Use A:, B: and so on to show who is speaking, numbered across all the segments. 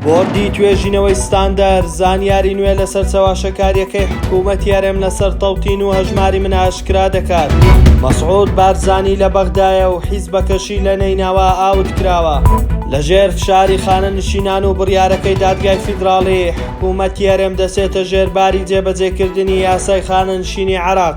A: بۆردی توێژینەوەی ستاندەر زانیاری نوێ لەسەر چەواشەکارییەکەی حکوومەتی هەرێم لەسەر تەوتین و هەژماری من ئاشکرا دەکات مەسعود بارزانی لە بەغدایە و حیزبەکەشی لە نەینەوا ئاوت کراوە لەژێر فشاری خانەنشینان و بڕیارەکەی دادگای فیدراڵی حکوومەتی هەرێم دەچێتە ژێر باری جێبەجێکردنی یاسای خانەنشینی عێراق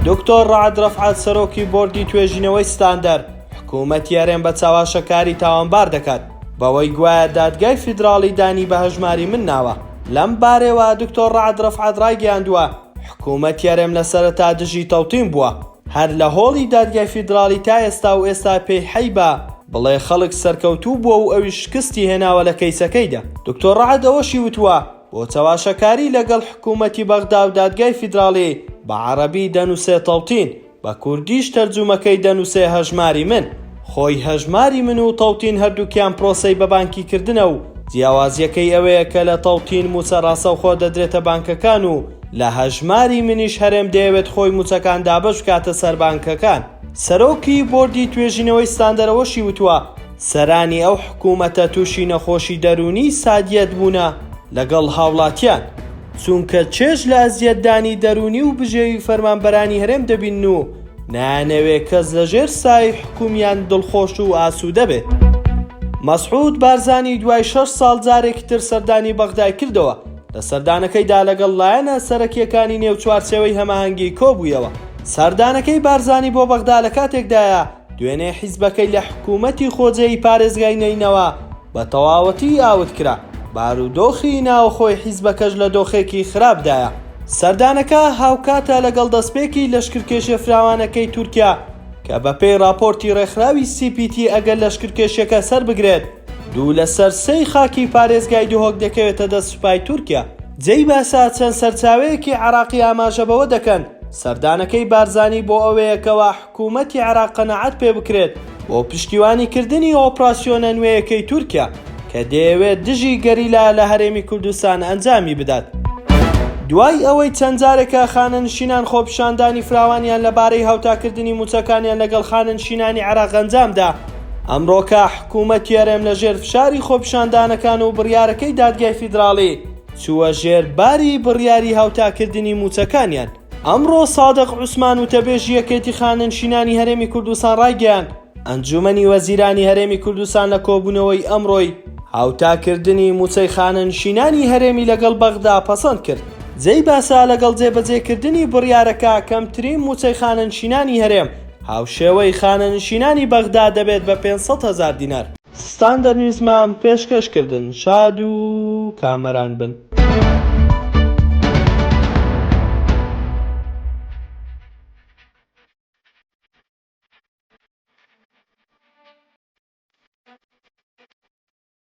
A: دکتۆر ڕعد ڕەفعات سەرۆکی بۆردی توێژینەوەی ستاندەر حکوومەتی هەرێم بە چاواشەکاری تاوانبار دەکات بەوەی گوایە دادگای فیدراڵی دانی بە هەژماری من ناوە. لەم بارەیەوە دکتۆر رەعد رەفعەت رایگەیاندووە، حکوومەت یەرێم لە سەرەتا دژی تەوتین بووە، هەر لە هۆڵی دادگای فیدراڵی تا ئێستا و ئێستا پێی حەیبە بڵێ خەڵک سەرکەوتوو بووە و ئەویش شکستی هێناوە لە کەیسەکەیدا. دکتۆر رەعد ئەوەشی وتووە، بۆ چەواشەکاری لەگەڵ حکوومەتی بەغدا و دادگای فیدراڵی، بە عەڕەبی دەنووسێ تەوتین. بە کوردیش تەرجوومەکەی دەنووسێ هەژماری من. خۆی هەژماری من و تەوتین هەردووکیان پرۆسەی بەبانکی کردنە و جیاوازییەکەی ئەوەیە کە لە تەوتین مووچە ڕاستەوخۆ دەدرێتە بانکەکان و لە هەژماری منیش هەرێم دەیەوێت خۆی مووچەکان دابەش بکاتە سەر بانکەکان. سەرۆکی بۆردی توێژینەوەی ستاندەر ئەوەشی وتووە، سەرانی ئەو حکوومەتە تووشی نەخۆشی دەروونیی سادییەت بوونە لەگەڵ هاوڵاتیان، چونکە چێژ لە ئەزیەتدانی دەروونی و بژێوی فەرمانبەرانی هەرێم دەبینن و نایانەوێت کەس لە ژێر سایەی حکومیان دڵخۆش و ئاسوودە بێت. مەسعود بارزانی دوای شەش ساڵ جارێکی تر سەردانی بەغدای کردەوە، لە سەردانەکەیدا لەگەڵ لایەنە سەرەکییەکانی نێو چوارچێوەی هەماهەنگی کۆبوویەوە. سەردانەکەی بارزانی بۆ بەغدا لە کاتێکدایە، دوێنێ حیزبەکەی لە حکوومەتی خۆجێی پارێزگای نەینەوا بە تەواوەتی ئاوت کرا، بارودۆخی ناوخۆی حیزبەکەش لە دۆخێکی خراپدایە. سەردانەکە هاوکاتە لەگەڵ دەستپێکی لەشکرکێشیە فراوانەکەی تورکیا کە بەپێی ڕاپۆرتی ڕێکخراوی سی پی تی ئەگەر لەشکرکێشیەکە سەربگرێت، دوو لەسەر سێی خاکی پارێزگای دهۆک دەکەوێتە دەست سوپای تورکیا. جێی باسە چەند سەرچاوەیەکی عێراقی ئاماژە بەوە دەکەن سەردانەکەی بارزانی بۆ ئەوەیە کەوا، حکومەتی عێراق قەناعەت پێ بکرێت بۆ پشتیوانی کردنی ئۆپراسیۆنە نوێیەکەی تورکیا کە دەیەوێت دژی گەریلا لە هەرێمی کوردستان ئەنجامی بدات. دوای ئەوەی چەند جارێکە خانەنشینان خۆپیشاندانی فراوانیان لە بارەی هاوتاکردنی مووچەکانیان لەگەڵ خانەنشینانی عێراق ئەنجام دا، ئەمڕۆکە حکومەتی هەرێم لە ژێر فشاری خۆپیشاندانەکان و بڕیارەکەی دادگای فیدراڵی چووە ژێر باری بڕیاری هاوتاکردنی مووچەکانیان. ئەمڕۆ سادق عوسمان وتەبێژی یەکێتی خانەنشینانی هەرێمی کوردستان ڕایگەیاند، ئەنجوومەنی وەزیرانی هەرێمی کوردستان لە کۆبوونەوەی ئەمڕۆی هاوتاکردنی مووچەی خانەنشینانی هەرێمی لەگەڵ بەغدا پەسەند کرد، جێی باسە لەگەڵ جێبەجێکردنی بڕیارەکە کەمترین مووچەی خانەنشینانی هەرێم هاوشێوەی خانەنشینانی بەغدا دەبێت بە پێنج سەد هەزار دینار. ستان دەنویسمام پێشکەش کردن شاد و کامەران بن.